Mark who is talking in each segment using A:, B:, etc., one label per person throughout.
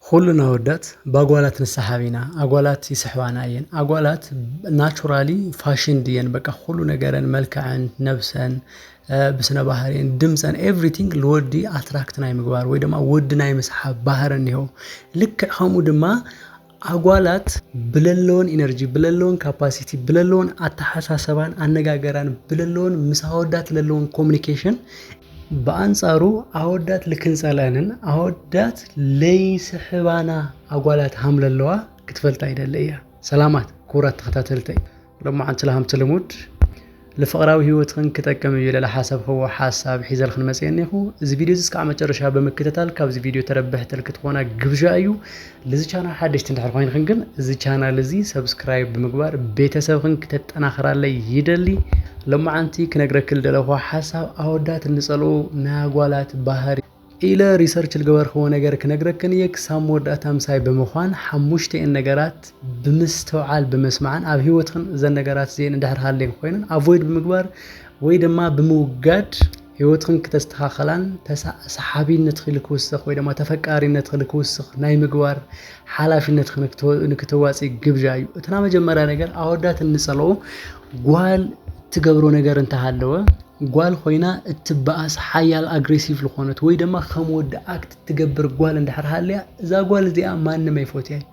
A: ኹሉን ኣወዳት ባጓላት ንስሓብ ኢና ኣጓላት ይስሕባና እየን ኣጓላት ናቹራሊ ፋሽን ድየን በቃ ኹሉ ነገረን መልክዐን ነብሰን ብስነ ባህሪን ድምፀን ኤቭሪቲንግ ልወዲ ኣትራክት ናይ ምግባር ወይ ድማ ወዲ ናይ ምስሓብ ባህሪ እኒሆ ልክዕ ከምኡ ድማ ኣጓላት ብለለወን ኢነርጂ ብለለወን ካፓሲቲ ብለለወን ኣተሓሳሰባን ኣነጋገራን ብለለወን ምስ ኣወዳት ለለወን ኮሚኒኬሽን ብኣንጻሩ ኣወዳት ልክንጸለንን ኣወዳት ለይስሕባና ኣጓላት ሃምለለዋ ክትፈልጣ ይደሊ እያ። ሰላማት ክቡራት ተኸታተልተይ ሎማዓንቲ ለሃምቲ ልሙድ ልፍቕራዊ ህይወትኽን ክጠቅም እዩ ለለሓሰብኽዎ ሓሳብ ሒዘልኽን መጽኤ እኔኹ። እዚ ቪድዮ እዚ እስካዕ መጨረሻ ብምክትታል ካብዚ ቪድዮ ተረብሕቲ ልክትኾና ግብዣ እዩ። ልዚ ቻናል ሓደሽቲ እንድሕር ኮይንክን ግን እዚ ቻናል እዚ ሰብስክራይብ ብምግባር ቤተሰብክን ክተጠናኽራለይ ይደሊ ሎማዓንቲ ክነግረክል ደለኹ ሓሳብ ኣወዳት እንጸልኡ ናጓላት ባህሪ ኢለ ሪሰርች ልገበርክዎ ነገር ክነግረክን እየ ክሳብ መወዳእታ ምሳይ ብምዃን ሓሙሽተኤን ነገራት ብምስትውዓል ብምስማዕን ኣብ ህይወትክን እዘን ነገራት እዚኤን እንድሕር ሃልየን ኮይነን ኣቮይድ ብምግባር ወይ ድማ ብምውጋድ ህይወትኽን ክተስተኻኸላን ተሳ ሰሓቢነትኺ ልክውስኽ ወይ ደማ ተፈቃሪነትኺ ልክውስኽ ናይ ምግባር ሓላፊነትኺ ንክትወ ንክተዋጽኢ ግብዣ እዩ። እቲ ናመጀመርያ ነገር ኣወዳት እንጸልኦ ጓል እትገብሮ ነገር እንተሃለወ ጓል ኾይና እትበኣስ ሓያል ኣግሬሲቭ ልኾነት ወይ ደማ ከም ወዲ ኣክት እትገብር ጓል እንድሕር ሃልያ እዛ ጓል እዚኣ ማንም ኣይፎትያን።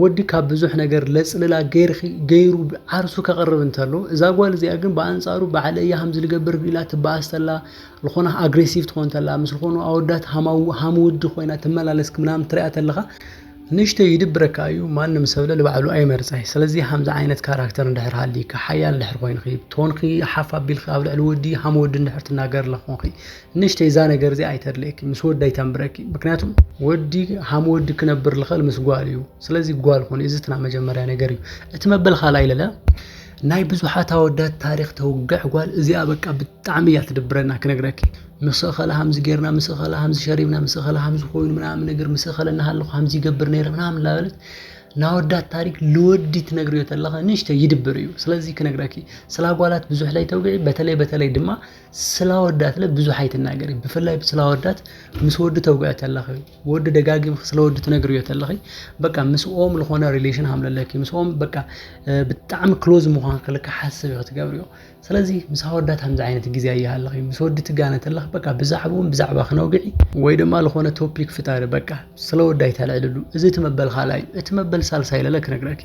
A: ወዲ ካብ ብዙሕ ነገር ለጽልላ ገይርኪ ገይሩ ዓርሱ ከቕርብ እንተሎ እዛ ጓል እዚኣ ግን ብኣንጻሩ ባዕለ እያ ከምዚ ልገብር ኢላ ትበኣስ ተላ ልኾና ኣግሬሲቭ ትኾን ተላ ምስ ልኾኑ ኣወዳት ሃማው ሃም ወዲ ኮይና ትመላለስ ምናምን ትሪኣ ተለኻ ንእሽተይ ይድብረካ እዩ ማንም ሰብለ ልባዕሉ ኣይመርፀይ ስለዚ ከምዚ ዓይነት ካራክተር እንድሕር ሃሊካ ሓያል እንድሕር ኮይንኺ ቶንኺ ሓፍ ኣቢልኺ ኣብ ልዕሊ ወዲ ሃም ወዲ እንድሕር ትናገር ለኾንኺ ንእሽተይ እዛ ነገር እዚኣ ኣይተድልየኪ ምስ ወዲ ኣይተንብረኪ ምክንያቱ ወዲ ሃም ወዲ ክነብር ልኸል ምስ ጓል እዩ ስለዚ ጓል ኾኒ እዚ ትና መጀመርያ ነገር እዩ እቲ መበል ካልኣይ ለለ ናይ ብዙሓት ኣወዳት ታሪክ ተውግዕ ጓል እዚኣ በቃ ብጣዕሚ እያ ትድብረና ክነግረኪ ምስ እኸለ ሃምዚ ጌርና ምስ እኸለ ሃምዚ ሸሪብና ምስ እኸለ ሃምዚ ኮይኑ ምናምን ነገር ምስ እኸለ እናሃለኹ ሃምዚ ይገብር ነይረ ምናምን ላበለት ናወዳት ታሪክ ልወዲ ትነግርዮ ተለኸ ንእሽተ ይድብር እዩ ስለዚ ክነግረኪ ስለ ኣጓላት ብዙሕ ላይ ተውግዒ በተለይ በተለይ ድማ ስላወዳትለ ብዙሕ ኣይትናገሪ ብፍላይ ስላወዳት ምስ ወዲ ተውግዐ ተለኺ ወዲ ደጋጊምኺ ስለ ወዲ ትነግርዮ ተለኺ በቃ ምስኦም ዝኾነ ሪሌሽን ሃምለለኪ ምስኦም በቃ ብጣዕሚ ክሎዝ ምዃን ክልካ ሓስብ ኢኺ ትገብርዮ ስለዚ ምስ ኣወዳት ከምዚ ዓይነት ግዜ ኣይሃለኺ ምስ ወዲ ትጋነ ተለኺ በቃ ብዛዕብኦም ብዛዕባ ክነውግዒ ወይ ድማ ዝኾነ ቶፒክ ፍጣሪ በቃ ስለ ወዲ ኣይተልዕልሉ እዚ እቲ መበል ካልኣይ እቲ መበል ሳልሳይ ለለ ክነግረኪ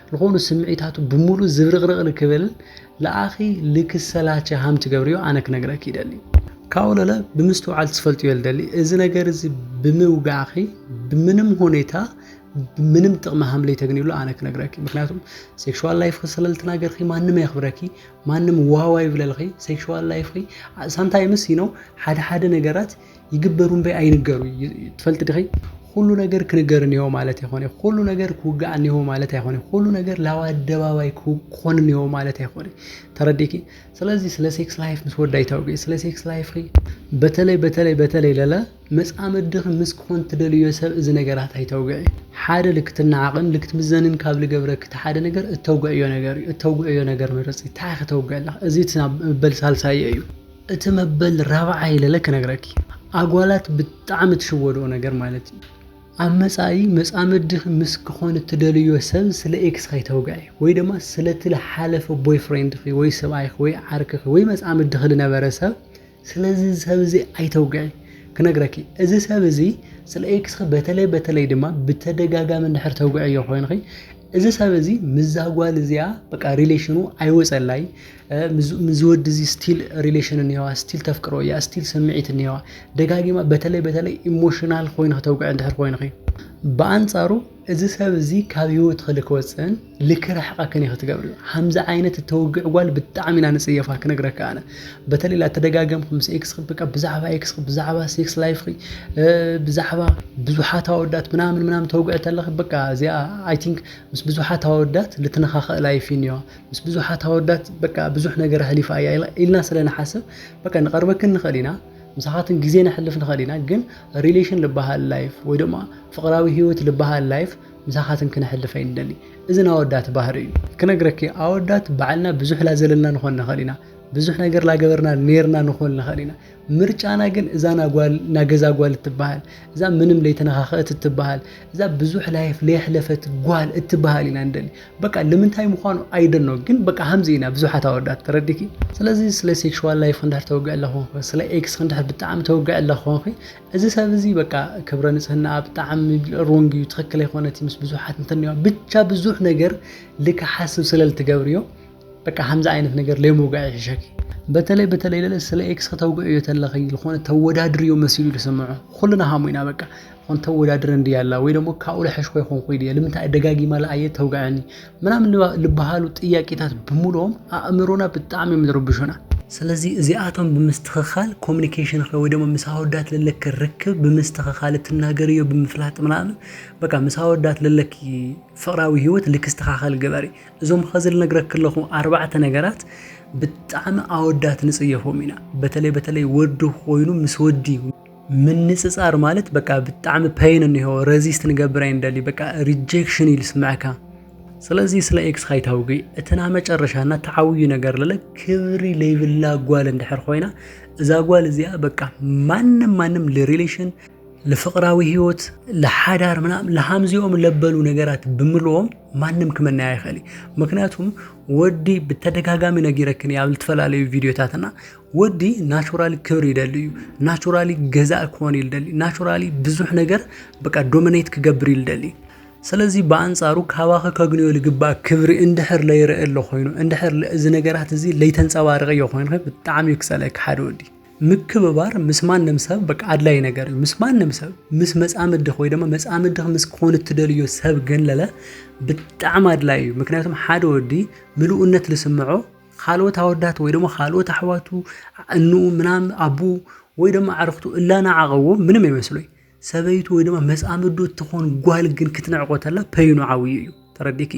A: ልኾኑ ስምዒታቱ ብምሉእ ዝብርቕርቕ ልክብል ለኣኺ ልክሰላቸ ሃም ትገብርዮ ኣነ ክነግረኪ ይደሊ። ካብኡ ለለ ብምስትውዓል ትፈልጥዮ ልደሊ እዚ ነገር እዚ ብምውጋዕኺ ብምንም ሁኔታ ምንም ጥቕሚ ሃም ለይተግንዩሉ ኣነ ክነግረኪ ምክንያቱም ሴክሽዋል ላይፍኺ ስለልትናገርኺ ማንም ኣየኽብረኪ ማንም ዋዋ ይብለልኺ ሴክሽዋል ላይፍኺ ሳምታይምስ ይነው ሓደ ሓደ ነገራት ይግበሩ እምበይ ኣይንገሩ ትፈልጢ ድኺ? ኹሉ ነገር ክንገር እኒሆ ማለት ኣይኮነ፣ ኹሉ ነገር ክውጋእ እኒሆ ማለት ኣይኮነ፣ ኹሉ ነገር ላብ ኣደባባይ ክኾን እኒሆ ማለት ኣይኮነ። ተረዲኪ? ስለዚ ስለ ሴክስ ላይፍ ምስ ወዳይ ታውጊ፣ ስለ ሴክስ ላይፍኺ በተለይ በተለይ በተለይ ለለ መጻምድኺ ምስ ክኾን ትደልዮ ሰብ እዚ ነገራት ኣይተውግዒ። ሓደ ልክትናዓቕን ልክትምዘንን ካብ ልገብረኪ እቲ ሓደ ነገር እተውግዕዮ ነገር እዩ። እተውግዕዮ ነገር ምረጺ። እንታይ ኢኺ ተውግዕላ? እዚ እቲ መበል ሳልሳይዮ እዩ። እቲ መበል ራብዓይ ለለ ክነግረኪ ኣጓላት ብጣዕሚ ትሽወድኦ ነገር ማለት እዩ ኣብ መጻኢ መጻምድኺ ምስ ክኾን እትደልዮ ሰብ ስለ ኤክስ ከይተውግዒ ወይ ድማ ስለቲ ዝሓለፈ ቦይፍሬንድኺ ወይ ሰብኣይኺ ወይ ዓርክኺ ወይ መጻምድኺ ዝነበረ ሰብ ስለዚ ሰብ እዚ ኣይተውግዒ ክነግረኪ እዚ ሰብ እዚ ስለ ኤክስኺ በተለይ በተለይ ድማ ብተደጋጋሚ እንድሕር ተውግዕዮ ኮይንኺ እዚ ሰብ እዚ ምዛ ጓል እዚኣ በቃ ሪሌሽኑ ኣይወጸላይ ምዚ ወዲ እዚ ስቲል ሪሌሽን እኒዋ ስቲል ተፍቅሮ እያ ስቲል ስምዒት እኒዋ ደጋጊማ በተለይ በተለይ ኢሞሽናል ኮይኑ ክተውግዕ እንድሕር ኮይንኺ ብኣንጻሩ እዚ ሰብ እዚ ካብ ህይወት ክሊ ክወፅእን ልክርሕቐክን እዩ ክትገብርዮ ከምዚ ዓይነት እተውግዕ ጓል ብጣዕሚ ኢና ንፅየፋ ክነግረካ ኣነ በተለይ ላተደጋገምኩ ምስ ኤክስ በቃ ብዛዕባ ኤክስ ብዛዕባ ሴክስ ላይፍ ብዛዕባ ብዙሓት ኣወዳት ምናምን ምናምን ተውግዕ ተለኺ በቃ እዚኣ ኣይ ቲንክ ምስ ብዙሓት ኣወዳት ልትነኻኸእ ላይፍ እዩ እኒዋ ምስ ብዙሓት ኣወዳት በቃ ብዙሕ ነገር ኣሕሊፋ እያ ኢልና ስለ ንሓስብ በቃ ንቐርበክን ንኽእል ኢና ምሳኻትን ግዜ ነሕልፍ ንኽእል ኢና ግን ሪሌሽን ልበሃል ላይፍ ወይ ድማ ፍቕራዊ ህይወት ልበሃል ላይፍ ምሳኻትን ክነሕልፍ ኣይንደሊ እዚ ናወዳት ባህሪ እዩ ክነግረኪ ኣወዳት ባዕልና ብዙሕ ላዘለልና ንኾን ንኽእል ኢና ብዙሕ ነገር ላገበርና ኔርና ንኾን ንኽእል ኢና ምርጫና ግን እዛ ናጓል ናገዛ ጓል እትበሃል እዛ ምንም ለይተነኻኸእት እትበሃል እዛ ብዙሕ ላይፍ ለየሕለፈት ጓል እትበሃል ኢና እንደሊ በቃ ልምንታይ ምዃኑ ኣይደኖ ግን በቃ ሃምዚ ኢና ብዙሓት ኣወዳት ተረዲኪ ስለዚ ስለ ሴክሽዋል ላይፍ ክንድሕር ተወግዕ ኣለኹንኺ ስለ ኤክስ ክንድሕር ብጣዕሚ ተወግዕ ኣለኹንኺ እዚ ሰብ እዚ በቃ ክብረ ንጽህናኣ ብጣዕሚ ሮንግ እዩ ትኽክል ኣይኮነት ምስ ብዙሓት እንተኒዋ ብቻ ብዙሕ ነገር ልክሓስብ ስለልትገብርዮ በቃ ከምዚ ዓይነት ነገር ለይምውጋዕ ይሕሸኪ በተለይ በተለይ ለለ ስለ ኤክስ ከተውግዕዮ ተለኺ ዝኾነ ተወዳድርዮ መሲሉ ዝስምዖ ኩልና ሃሙ ኢና በቃ ኾን ተወዳድረ እንዲ ያላ ወይ ደግሞ ካብኡ ልሐሽ ኮይ ኾንኩ ይድየ ልምንታይ ደጋጊማ ለኣየ ተውግዐኒ ምናምን ልበሃሉ ጥያቄታት ብምልኦም ኣእምሮና ብጣዕሚ እዮም ዝርብሹና ስለዚ እዚኣቶም ብምስትኽኻል ኮሚኒኬሽንኺ ወይ ደግሞ ምስ ኣወዳት ለለኪ ርክብ ብምስትኽኻል እትናገርዮ ብምፍላጥ ምናምን በቃ ምስ ኣወዳት ለለኪ ፍቕራዊ ህይወት ልክስተኻኸል ግበሪ እዞም ኸዚ ልነግረኪ ኣለኹ ኣርባዕተ ነገራት ብጣዕሚ ኣወዳት ንጽየፎም ኢና በተለይ በተለይ ወዲ ኮይኑ ምስ ወዲ ምንጽጻር ማለት በቃ ብጣዕሚ ፐይን እኒሆ ረዚስት ንገብር ኣይንደሊ በቃ ሪጀክሽን እዩ ልስምዐካ ስለዚ ስለ ኤክስ ካይታውጊ እትና መጨረሻና ተዓውዩ ነገር ለለ ክብሪ ለይብላ ጓል እንድሕር ኮይና እዛ ጓል እዚኣ በቃ ማንም ማንም ልሪሌሽን ለፍቕራዊ ህይወት ለሓዳር ምናምን ለሃምዚኦም ለበሉ ነገራት ብምልዎም ማንም ክመናያ ይኽእል ምክንያቱም ወዲ ብተደጋጋሚ ነጊረክን ኣብ ዝተፈላለዩ ቪድዮታትና ወዲ ናቹራሊ ክብሪ ይደሊ እዩ ናቹራሊ ገዛእ ክኾን ይደሊ ናቹራሊ ብዙሕ ነገር በቃ ዶሚኔት ክገብር ይደሊ ስለዚ ብኣንጻሩ ካባኸ ከግንዮ ልግባእ ክብሪ እንድሕር ለይርእ ኣሎ ኮይኑ እንድሕር እዚ ነገራት እዚ ለይተንፀባርቂ እዮ ኮይኑ ብጣዕሚ እዩ ክፀለክ ሓደ ወዲ ምክብባር ምስ ማንም ሰብ በቃ ኣድላይ ነገር እዩ። ምስ ማንም ሰብ ምስ መጻምድኽ ወይ ድማ መጻምድኽ ምስ ክኾን እትደልዮ ሰብ ገለለ ብጣዕሚ ኣድላይ እዩ። ምክንያቱም ሓደ ወዲ ምልኡነት ልስምዖ ካልኦት ኣወዳት ወይ ድማ ካልኦት ኣሕዋቱ እንኡ ምናም ኣቡ ወይ ድማ ኣዕርኽቱ እላናዓቐዎ ምንም ኣይመስሎይ ሰበይቱ ወይ ድማ መጻምዱ እትኾን ጓል ግን ክትንዕቆ ተላ ፐይኑ ዓብዩ እዩ ተረዲኪ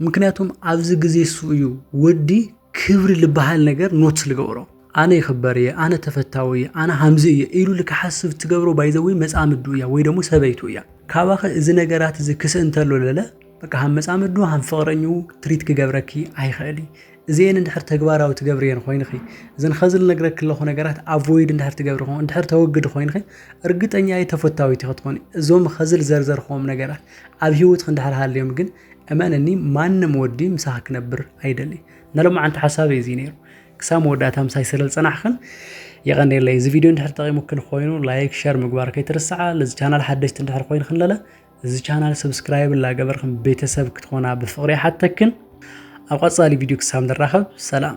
A: ምክንያቱም ኣብዚ ግዜ እሱ እዩ ወዲ ክብሪ ልበሃል ነገር ኖት ልገብሮ ኣነ ይኽበር እየ ኣነ ተፈታዊ እየ ኣነ ሃምዚ እየ ኢሉ ልክሓስብ ትገብሮ ባይዘዊ መጻምዱ እያ ወይ ደሞ ሰበይቱ እያ ካባኸ እዚ ነገራት እዚ ክስእንተሎ ለለ በቃ ሃም መጻምዱ ሃም ፍቕረኙ ትሪት ክገብረኪ ኣይኸእል እዚኤን እንድሕር ተግባራዊ ትገብርየን ኮይንኺ እዘን ኸዚ ልነግረኪ ኣለኹ ነገራት ኣቮይድ እንድሕር ትገብሪ ኾ እንድሕር ተወግዲ ኮይንኺ እርግጠኛ እየ ተፈታዊት ክትኮኒ እዞም ኸዚ ልዘርዘርክዎም ነገራት ኣብ ሂወትኺ እንድሕር ሃልዮም ግን እመንኒ ማንም ወዲ ምሳኺ ክነብር ኣይደሊ ነሎማዓንቲ ሓሳበይ እዚ ነይሩ ክሳብ መወዳእታ ምሳይ ስለ ዝፀናሕኽን የቐኔለይ እዚ ቪድዮ እንድሕር ጠቒሙክን ኮይኑ ላይክ ሸር ምግባር ከይትርስዓ ለዚ ቻናል ሓደሽቲ እንድሕር ኮይንክን ለለ እዚ ቻናል ሰብስክራይብ እላገበርክን ቤተሰብ ክትኾና ብፍቕሪ ይሓተክን ኣብ ቐፃሊ ቪድዮ ክሳብ ንራኸብ ሰላም